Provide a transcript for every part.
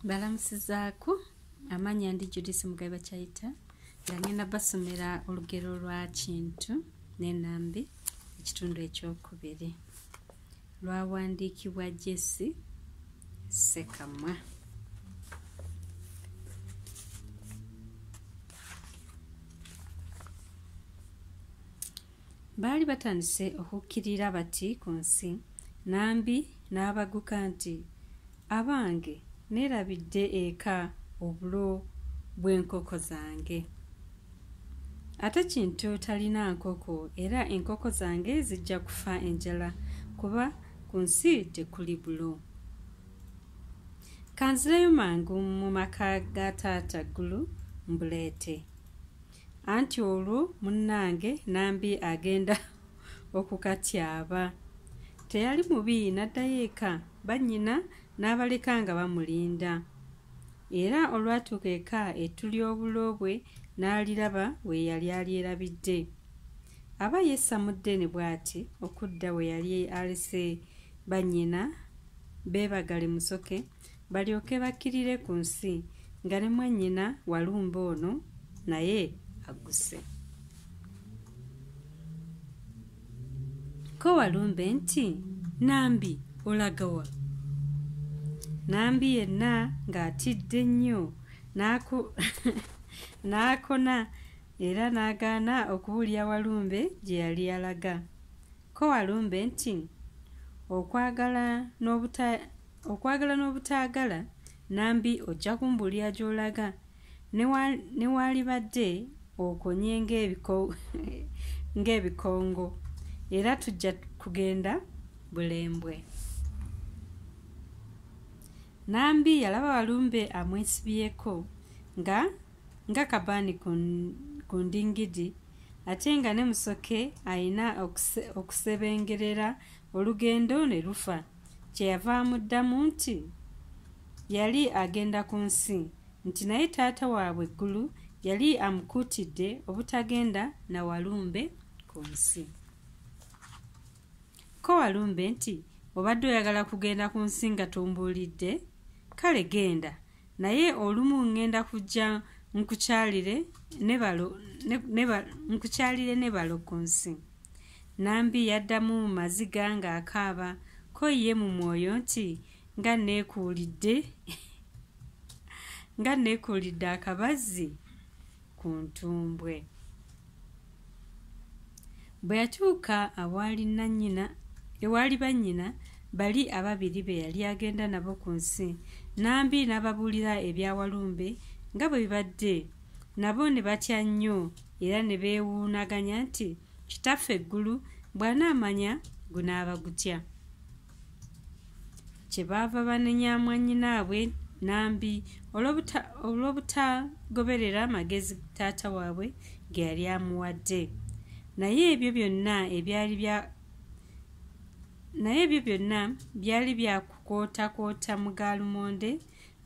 balamusizaako amanya ndi judisi mugabe bakyayita nga ngenda basomera olugero lwa kintu nenambi ekitundu ekyokubiri lwawandiikibwa jesi sekamwa baali batandise okukkirira bati ku nsi nambi n'abaguka nti abange neerabidde eka obulo bw'enkoko zange ate kintu talina nkoko era enkoko zange zijja kufa enjala kuba ku nsi tekuli bulo kanzireyo mangu mu maka ga taata ggulu mbuleete anti olwo munnange nambi agenda okukatyaba teyali mubi naddayo eka bannyina n'abaleka nga bamulinda era olwatuuka eka ettu ly'obulo bwe n'aliraba we yali alyerabidde aba yesamudde ne bw'ati okudda we yali alese bannyina beebagale musoke okay. balyoke bakkirire ku nsi nga ne mwannyina walumba ono naye agguse ko walumbe nti nambi olagawa nambi yenna ng'atidde nnyo n'akona era n'agaana okuwulira walumbe gye yali alaga ko walumbe nti okwagala n'obuta okwagala n'obutaagala nambi ojja kumbuulira gy'olaga ne waalibadde okonye ng'ebikongo era tujja kugenda bulembwe nambi yalaba walumbe amwesibyeko nga nga kabaani ku ndingidi ate nga ne musoke alina okusebengerera olugendo ne lufa kyeyava amuddamu nti yali agenda ku nsi nti naye taata waabwe eggulu yali amukuutidde obutagenda na walumbe ku nsi ko walumbe nti obadde oyagala kugenda ku nsi nga tombuulidde kale genda naye olumu ŋŋenda kujja nkukyalire nkukyalire ne balo ku nsi nambi yaddamu mu maziga ng'akaaba ko ye mu mwoyo nti nga neekuulidde nga neekuulidde akabazzi ku ntumbwe bwe yatuuka awaali nannyina ewaali bannyina bali ababiri be yali agenda nabo ku nsi nambi n'ababuulira ebya walumbe nga bwe bibadde nabo ne batya nnyo era ne beewuunaganya nti kitaffe eggulu bw'anaamanya gunaaba gutya kyebaava banenya mwanyinaabwe nambi olw'obutagoberera amagezi taata waabwe ge yali amuwadde naye ebyo byonna ebyali bya naye ebyo byonna byali byakukootakoota mu gaalumonde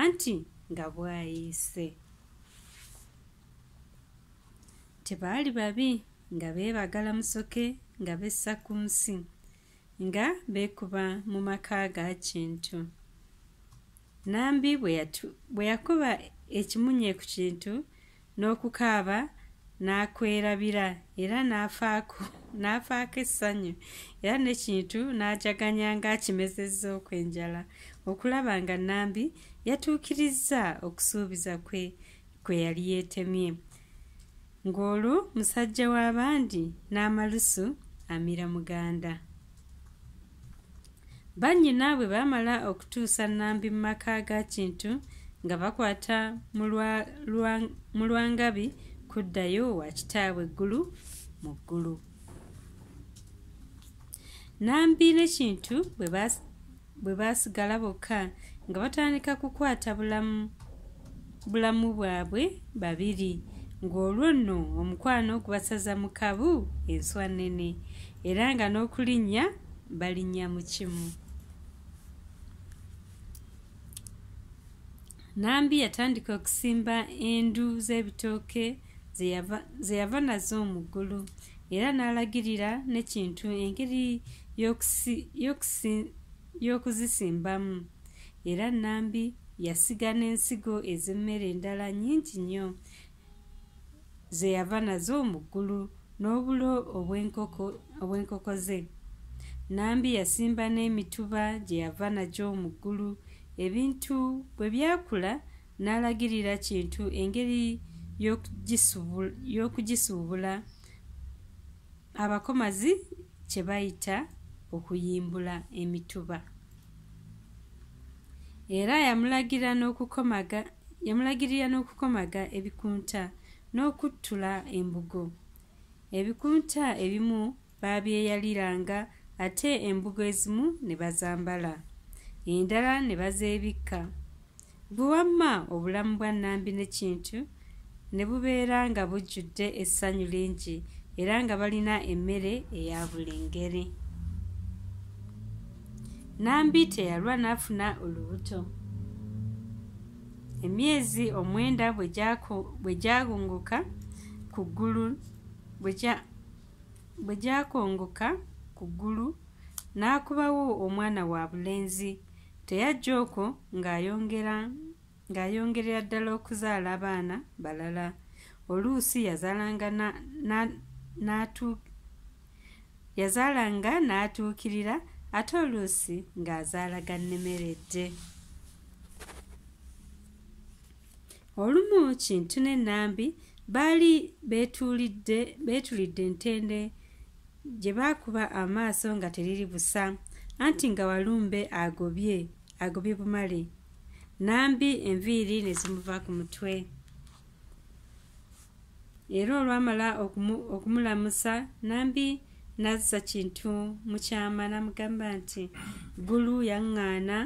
anti nga bwayiise tebaali babi nga beebagala musoke nga bessa ku nsi nga beekuba mu maka ga kintu nambi bwe yakuba ekimunye ku kintu n'okukaaba n'akwerabira era n'afaako n'afaako essanyu era n'ekintu n'ajaganya ng'akimezezza okwenjala okulaba nga nambi yatuukirizza okusuubiza kwe gwe yali yeetemye ng'olwo musajja w'abandi n'amalusu amira muganda bannyina bwe baamala okutuusa nnambi mu maka ga kintu nga bakwata mu lwangabi kuddayo wa kitaabwe eggulu mu ggulu nambi ne kintu bwe bwe baasigala bokka nga batandika kukwata bulamu bulamu bwabwe babiri ng'olwo nno omukwano gubasaza mu kabu enswa nnene era nga n'okulinnya balinnya mu kimu nambi yatandika okusimba endu z'ebitooke ze yava nazo mu ggulu era n'alagirira n'ekintu engeri y'okuzisimbamu era nambi yasiga n'ensigo ez'emmere endala nnyingi nnyo ze yava nazo mu ggulu n'obulo obw'enkoko ze nambi yasimba n'emituba gye yava nagyo mu ggulu ebintu bwe byakula n'alagirira kintu engeri y'okugisuubula abakomazi kye bayita okuyimbula emituba era yamulagirira n'okukomaga yamulagirira n'okukomaga ebikunta n'okuttula embugo ebikunta ebimu baabyeyaliranga ate embugo ezimu ne bazambala endala ne bazeebikka gwe wamma obulamu bwa nnambi ne kintu ne bubeera nga bujjudde essanyu lingi era nga balina emmere eya buli ngeri nnambi teyalwa n'afuna olubuto emyezi omwenda bwe gyagunguka ku ggulu bwe gyakongoka ku ggulu n'akubawo omwana wa bulenzi teyajja okwo ng'ayongerera ddala okuzaala abaana balala oluusi yazaalanga yazaalanga n'atuukirira ate oluusi ng'azaala gannemeredde olumu kintu ne nambi baali beetulidde beetulidde ntende gye baakuba amaaso nga teriri busa anti nga walumbe agobye agobye bumale nambi enviiri ne zimuva ku mutwe era olwamala okumulamusa nambi nazza kintu mu kyama namugamba nti ggulu yaŋŋaana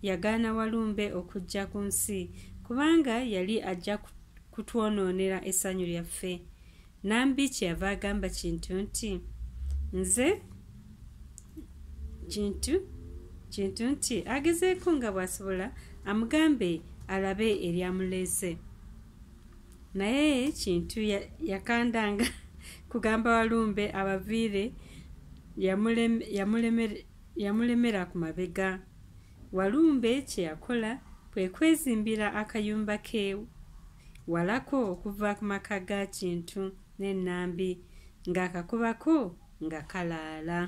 yagaana walumbe okujja ku nsi kubanga yali ajja kutwonoonera essanyu lyaffe nambi kyeyava agamba kintu nti nze kintu kintu nti agezeeko nga bw'asobola amugambe alabe eryamuleese naye kintu yakandanga kugamba walumbe abaviire yamulemera ku mabega walumbe kyeyakola kwe kwezimbira akayumba ke walako okuva ku maka ga kintu n'ennambi ng'akakubako nga kalaala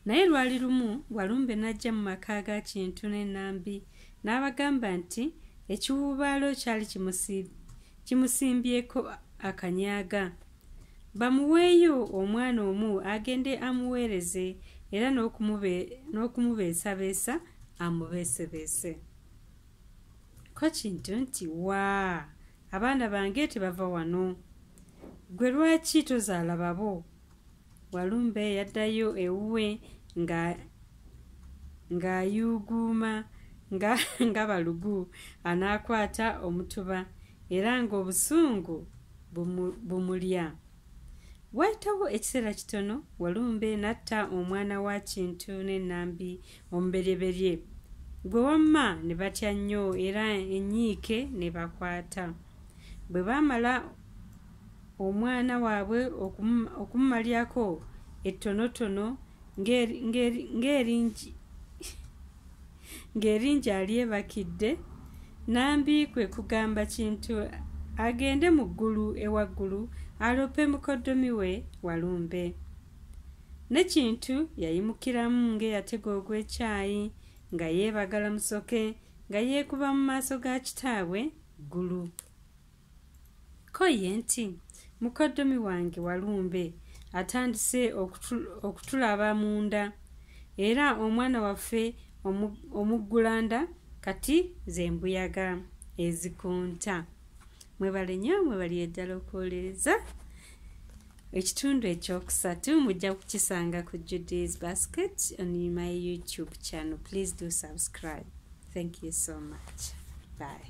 naye lwali lumu walumbe n'ajja mu maka ga kintu n'ennambi n'abagamba nti ekiwuubaalo kyali kimusimbyeko akanyaaga bamuweeyo omwana omu agende amuweereze era n'okumubeesabeesa amubeesebeese ko kintu nti waa abaana bange tebava wano gwe lwaki tozaala babo walumbe yaddayo ewuwe nga ng'ayuuguuma nga nga balugu anaakwata omutuba era ng'obusungu bumulya waayitawo ekiseera kitono walumbe n'atta omwana wa kintu n'ennambi omuberyeberye gwe wamma ne batya nnyo era enyiike ne bakwata bwe baamala omwana waabwe okumumalyako ettonotono ng'eringi alyebakidde nambi kwe kugamba kintu agende mu ggulu ewaggulu alope mukoddomi we walumbe ne kintu yayimukiramu ng'eyatega ogw'ekyayi nga yeebagala musoke nga yeekuba mu maaso ga kitaabwe ggulu ko ye nti mukoddomi wange walumbe atandise okutulaba munda era omwana waffe omuggulanda kati ze mbuyaga ezikunta mwebale nyo mwebali eddala okuwolereza ekitundu ekyokusatu mujja kukisanga ku judy's basket on my youtube channel please do subscribe thank you so much bye